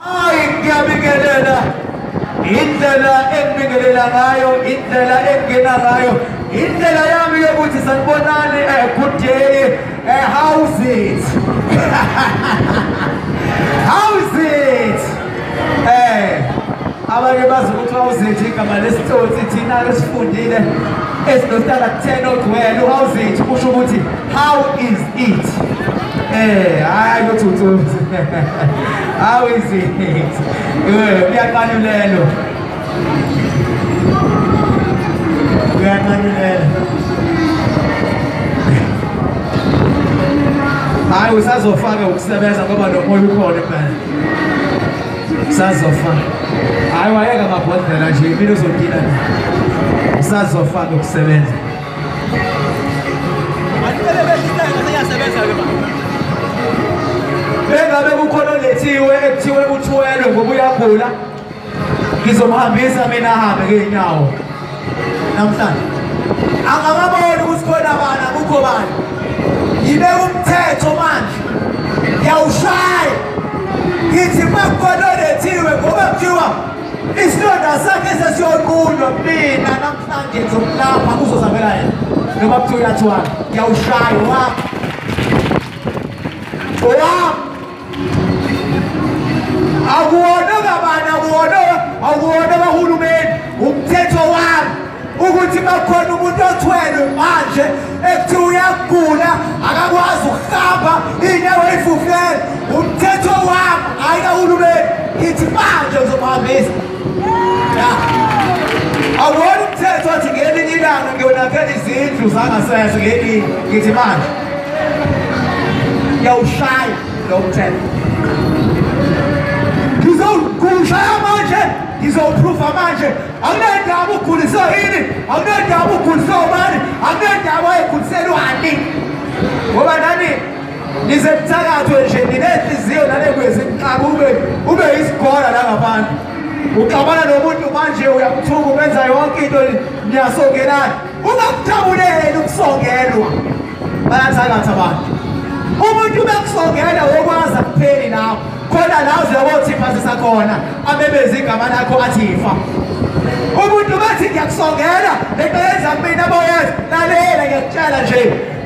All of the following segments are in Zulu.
Hayi ngiyabingelela indlela engibingelela ngayo indlela engena ngayo indlela yami yokuthi sanibonani a eh, good day a eh, how's it how's it eh abanye bazi ukuthi how's it igama lesitsotsi thina lesifundile esinostala 10 odwele how's it kusho ukuthi How is it? Eh, hayi kuthuthuzi. How is it? Eh, kuyaqanulelo. Kuyaqanulelo. Hayi usazofaka ukusebenza ngoba nomoya ukhona phela. Usazofaka. Hayi wayeka mabhodlela nje impilo uzodila. Usazofaka ukusebenza. bengabe kukhona olethiwe ekuthiwe uthwelwe ngoba uyagula ngizomhambisa mina ahambe ngey'nyawo namhlanje angababoni ukuthi khona bani akukho bani yibe umthetho manje ngiyawushaya ngithi uma kukhona olethiwe ngoba kuthiwa isilonda sakhe sesiyoqunywa mina Manje ngizomlapha kuzozamela yena noma kuthiwa uyathiwana ngiyawushaya owami owami akuwona kabani akuwona akuwona kahulumeni umthetho wami ukuthi bakhona umuntu othwelwe manje ekuthiwa uyagula akakwazi ukuhamba inyawo eyifufele umthetho wami hhayi kahulumeni ngithi manje uzomuhambisa awona umthetho othi ngelinye ilanga ngiyonakela izindlu zangasese ngelinye ngithi manje ngiyawushaya lo mthetho ngizowushaya manje ngizowupruva manje akunendaba uguliswe yini akunendaba uguliswe ubani akunendaba wayegulise lwani ngoba nani Nize mthakathwe nje ninenhliziyo nale kwezinqaba ube ube isigora la ngaphandle. Uxabana nomuntu manje uyamthuka ubenza yonke into niyasongelana. Ungakuthabuleli ukusongelwa. Bayathakatha abantu. Umuntu ubekusongela wokwazi akupheli nawe. Khona la uzothi phasisa khona abebezi igama lakho athi ifa. Umuntu bathi ngiyakusongela lento yenza mina boyenza lalela ngiyakutshela nje.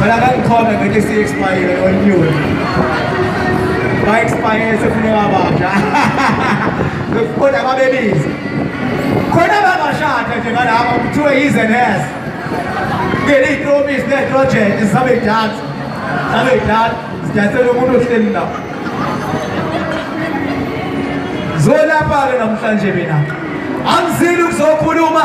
Wala kang comment na kasi expire on you. Ba-expire sa pinababasha. Nagpunta ka, babies. Khona babashada nje ngalapha kuthiwe yiz and has. Ngeli promise ne project sabe dad. Sabe dad. Sidansela umuntu ohleli la. Zolapha ke namhlanje mina. Angizili ukuzokhuluma